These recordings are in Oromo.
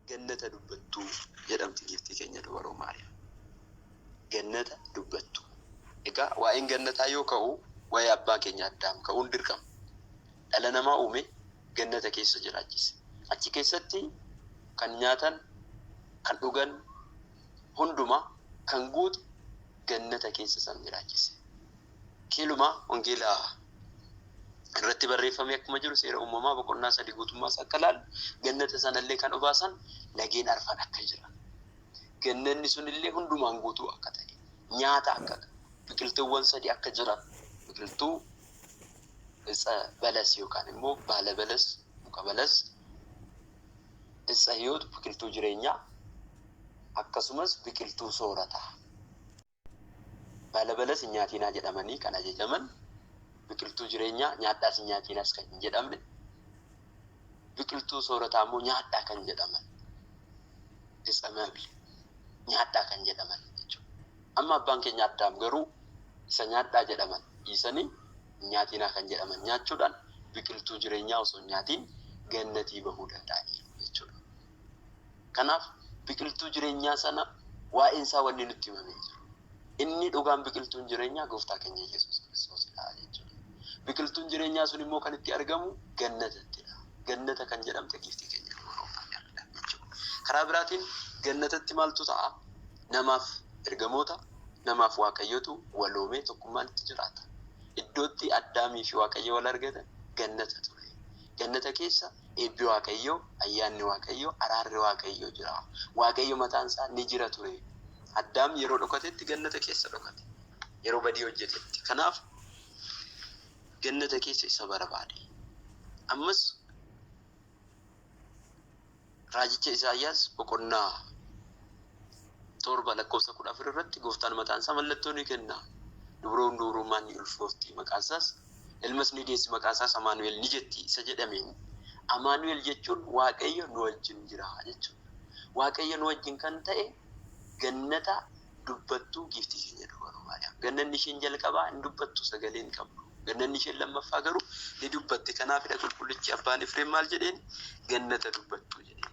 Gannata Dubbattuu jedhamti giiftii keenya Dubaroo Maariyaam. Gannata Dubbattuu. Egaa waa'een gannataa yoo ka'u waa'ee abbaa keenya Addaam ka'uun dirqama. Dhala namaa uume, gannata keessa jiraachise. Achi keessatti kan nyaatan, kan dhugan hundumaa kan guute gannata keessa isaan jiraachise. Keeluma wangeela irratti barreeffame akkuma jiru seera uumamaa boqonnaa sadii guutummaa isaa akka ilaallu gannata sanallee kan obaasan lageen arfan akka jiran gannanni sunillee hundumaan guutuu akka ta'e nyaata akka qabu biqiltuuwwan sadii akka jiran biqiltuu itsa balas yookaan immoo baala balas muka balas itsa hiyoot biqiltuu jireenyaa akkasumas biqiltuu soorataa Baalabala sin nyaatiinaa jedhamanii kan ajajaman, biqiltuu jireenyaa nyaadhaa sin nyaatiinas kan hin jedhamne, biqiltuu soorataa immoo nyaadhaa kan jedhaman, isamable nyaadhaa kan jedhaman jechuudha. Amma abbaan keenya addaam garuu isa nyaadhaa jedhaman dhiisanii hin nyaatiinaa kan jedhaman nyaachuudhaan biqiltuu jireenyaa osoo hin nyaatiin gannatii bahuu danda'aniiru jechuudha. Kanaaf biqiltuu jireenyaa sana waa'een isaa wanni nutti himame hin jiru. Inni dhugaan biqiltuun jireenyaa gooftaa keenya Yesuus Kiristoosidha jechuudha. Biqiltuun jireenyaa sun immoo kan itti argamu gannatattidha. Gannata kan jedhamte giiftii keenya Dubroo Maariyaamidha jechuudha. Karaa biraatiin gannatatti maaltu ta'a? Namaaf ergamoota, namaaf Waaqayyotu waloomee tokkummaan itti jiraata. Iddootti Addaamii fi Waaqayyo wal argatan gannata ture. Gannata keessa Eebbi Waaqayyoo, Ayyaanni Waaqayyoo, Araarri Waaqayyoo jira. Waaqayyo mataan isaa ni jira ture. Addaam yeroo dhokatetti gannata keessa dhokate. Yeroo badii hojjetetti. Kanaaf gannata keessa isa barbaade. Ammas raajicha Isaayyaas boqonnaa torba lakkoofsa kudha afur irratti gooftaan mataan isaa mallattoo ni kenna. Dubroon dubrummaan ni ulfoofti. Maqaan isaas Ilmas ni deessi, maqaa isaas Amaanu'el ni jetti isa jedhameen, Amaanu'el jechuun Waaqayyo nu wajjin jira jechuu dha. Waaqayyo nu wajjin kan ta'e Gannata dubbattuu giiftii keenya Dubroo Maariyaam. Gannanni isheen jalqabaa hin dubbattu, sagalee hin qabdu. Gannanni isheen lammaffaa garuu ni dubbatti. Kanaafidha Qulqullichi Abbaan Efreem maal jedheen? Gannata dubbattuu jedheen.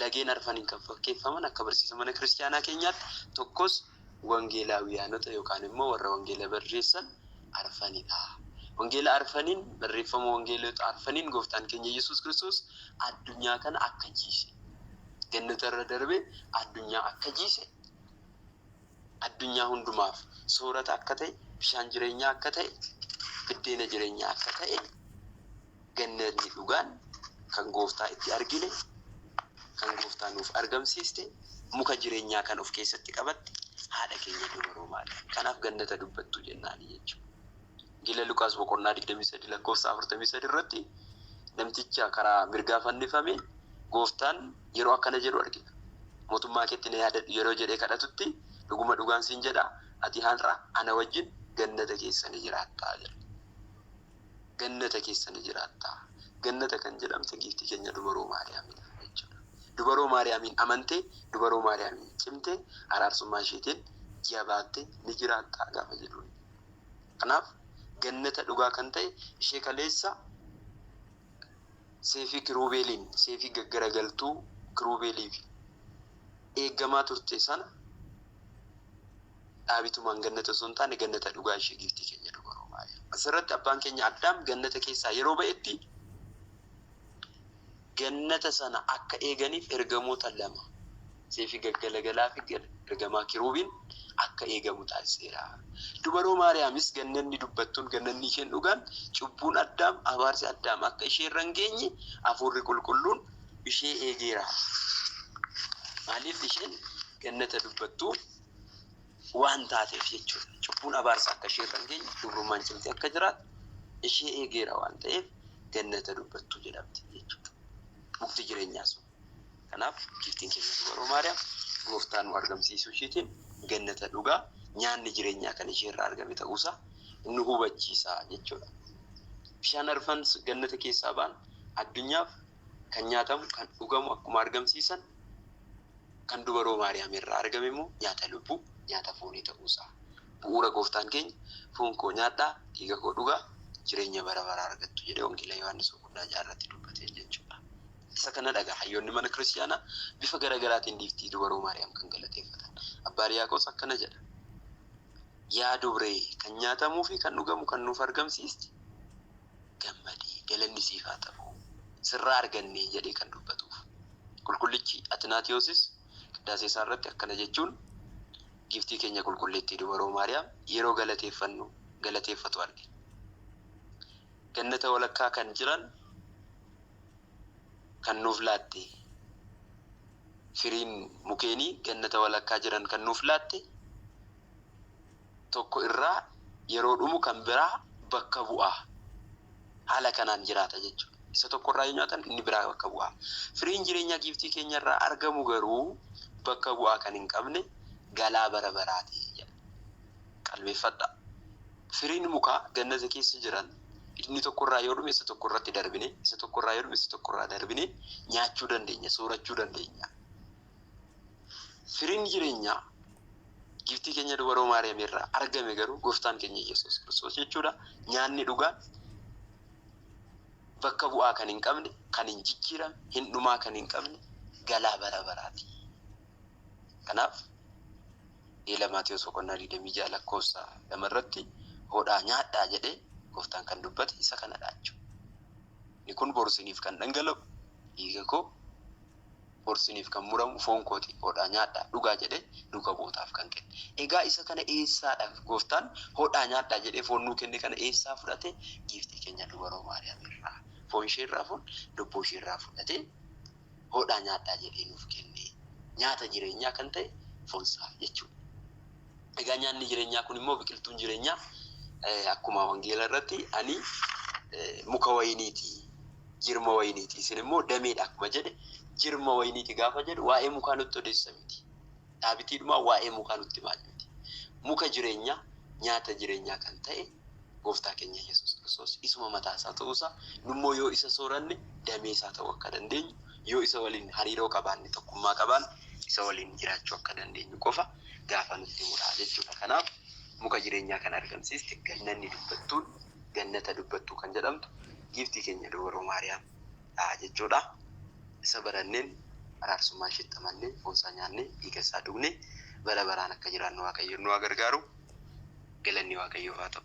Lageen arfaniin kan fakkeeffaman akka barsiisa mana kiristiyaanaa keenyaatti tokkos wangeelaawiyaanota yookaan immoo warra wangeela barreessan arfanidha. Wangeela arfaniin barreeffama wangeelota arfaniin gooftaan keenya Yesuus Kiristoos addunyaa kana akka jiise gannata irra darbee addunyaa akka jiise addunyaa hundumaaf soorata akka ta'e bishaan jireenyaa akka ta'e biddeena jireenyaa akka ta'e Gannati dhugaan kan Gooftaa itti argine, kan Gooftaa nuuf argamsiiste, muka jireenyaa kan of keessatti qabatte haadha keenya dubaroo Maariyaam. Kanaaf Gannata dubbattuu jennaani jechu. Gila Luqaas boqonnaa 23 lakkoofsa 43 irratti namticha karaa mirgaa fannifame Gooftaan yeroo akkana jedhu argina. Mootummaa keetti na yaadadhu yeroo jedhee kadhatutti dhuguma dhugaan siin jedha ati har'a ana wajjin Gannata keessa ni jiraatta jedha. Gannata keessa ni jiraatta. Gannata kan jedhamte giiftii keenya Dubaroo Maariyaamiidha jechuudha. Dubaroo Maariyaamiin amantee, Dubaroo Maariyaamiin cimtee, araarsummaa isheetiin jabaattee ni jiraatta gaafa jedhuun. Kanaaf Gannata dhugaa kan ta'e ishee kaleessa seefii kiruubeeliin, seefii gaggaragaltuu kiruubeeliifi eeggamaa turte sana Dhaabituu maan gannata osoo hin taane gannata dhugaa ishee giiftii keenya dubaroo Maariyaam. Asirratti abbaan keenya Addaam gannata keessaa yeroo ba'etti gannata sana akka eeganiif ergamoota lama seefii gaggalagalaa fi ergamaa kiruubiin akka eegamu taasiseera. Dubaroo Maariyaamis gannanni dubbattuun gannanni isheen dhugaan cubbuun Addaam abaarsi Addaam akka ishee irra hin geenye hafuurri qulqulluun ishee eegeera. Maaliif isheen gannata dubbattuu waan taateef jechuudha. Cubbuun abaarsa akka ishee irra hin geenye, dubrummaan cimtee akka jiraattu ishee eegeera waan ta'eef gannata dubbattuu jedhamti jechuudha. Mukti jireenyaa sun. Kanaaf giiftiin keenya dubaroo Maariyaam gooftaa nu argamsiisuu ishiitiin gannata dhugaa nyaanni jireenyaa kan ishee irraa argame ta'uusaa nu hubachiisa jechuudha. Bishaan arfan gannata keessaa ba'an addunyaaf kan nyaatamu, kan dhugamu akkuma argamsiisan, kan dubaroo Maariyaam irraa argame immoo nyaata lubbuu, nyaata foonii ta'uu isaa bu'uura Gooftaan keenya foon koo nyaadhaa, dhiiga koo dhugaa jireenya bara baraa argattu jedhee Wangeela Yohaannis boqonnaa 6 irratti dubbateen jechuudha. Isa kana dhagaa hayyoonni mana kiristiyaanaa bifa gara garaatiin dhiiftii dubaroo Maariyaam kan galateeffatan. Abbaa Riyaaqos akkana jedha. Yaa dubree kan nyaatamuu fi kan dhugamu kan nuuf argamsiiste gammadee, Galanni siif haa ta'u, sirraa argannee jedhee kan dubbatuuf. Qulqullichi Atinaatiyoosis qiddaasee isaa irratti akkana jechuun Giiftii keenya Qulqulleettii Dubaroo Maariyaam yeroo galateeffannu, galateeffatu arge. Gannata walakkaa kan jiran kan nuuf laatte, firiin mukeenii gannata walakkaa jiran kan nuuf laatte, tokko irraa yeroo dhumu kan biraa bakka bu'a. Haala kanaan jiraata jechuudha. Isa tokko irraa yoo nyaatan inni biraa bakka bu'a. Firiin jireenyaa giiftii keenya irraa argamu garuu bakka bu'aa kan hin qabne galaa bara baraati jedha. Qalbeeffadhaa. Firiin mukaa gannata keessa jiran inni tokko irraa yoo dhume isa tokko irratti darbine, isa tokko irraa yoo dhume isa tokko irraa darbine nyaachuu dandeenya, soorachuu dandeenya. Firiin jireenyaa giftii keenya dubaroo Maariyaam irraa argame garuu gooftaan keenya Yesuus Kiristoos jechuudha. Nyaanni dhugaan bakka bu'aa kan hin qabne, kan hin jijjiiramne, hin dhumaa kan hin qabne galaa bara baraati. Kanaaf Wangeela Maatewos boqonnaa 26 lakkoofsa 2 irratti hodhaa nyaadhaa jedhee gooftaan kan dubbate isa kanadha jechuudha. Inni kun boru isiniif kan dhangala'u dhiiga koo Bor isiniif kan muramu foon koo xiqqoo dha, nyaadhaa, dhugaa jedhee duuka bu'ootaaf kan kenne. Egaa isa kana eessaa dha Gooftaan hodhaa nyaadhaa jedhee foon nuu kenne kana eessaa fudhate? Giiftii keenya Dubaroo Maariyaam irraa, foon ishee irraa foon, lubbuu ishee irraa fudhatee hodhaa nyaadhaa jedhee nuuf kenne. Nyaata jireenyaa kan ta'e foon isaa jechuu dha. Egaa nyaanni jireenyaa kun immoo biqiltuun jireenyaa akkuma wangeela irratti ani muka wayiniiti, jirma wayiniiti, isin immoo dameedha akkuma jedhe jirma wayiniiti gaafa jedhu waa'ee mukaa nutti odeessa miti. Dhaabitiidhumaa waa'ee mukaa nutti maal miti. Muka jireenyaa nyaata jireenyaa kan ta'e gooftaa keenya Yesuus Kiristoos isuma mataa isaa ta'uusaa nummoo yoo isa sooranne damee isaa ta'uu akka dandeenyu Yoo isa waliin hariiroo qabaanne, tokkummaa qabaanne, isa waliin jiraachuu akka dandeenyu qofa gaafa nutti himu dha jechuu dha. Kanaaf muka jireenyaa kan argamsiiste gannanni dubbattuun, Gannata Dubbattuu kan jedhamtu Giiftii keenya Dubroo Maariyaam dha jechuu dha. Isa baranneen, araarsummaa isheetti amannee, foon isaa nyaannee, dhiiga isaa dhugnee bara baraan akka jiraannu Waaqayyoon nu haa gargaaru. Galanni Waaqayyoof haa ta'u!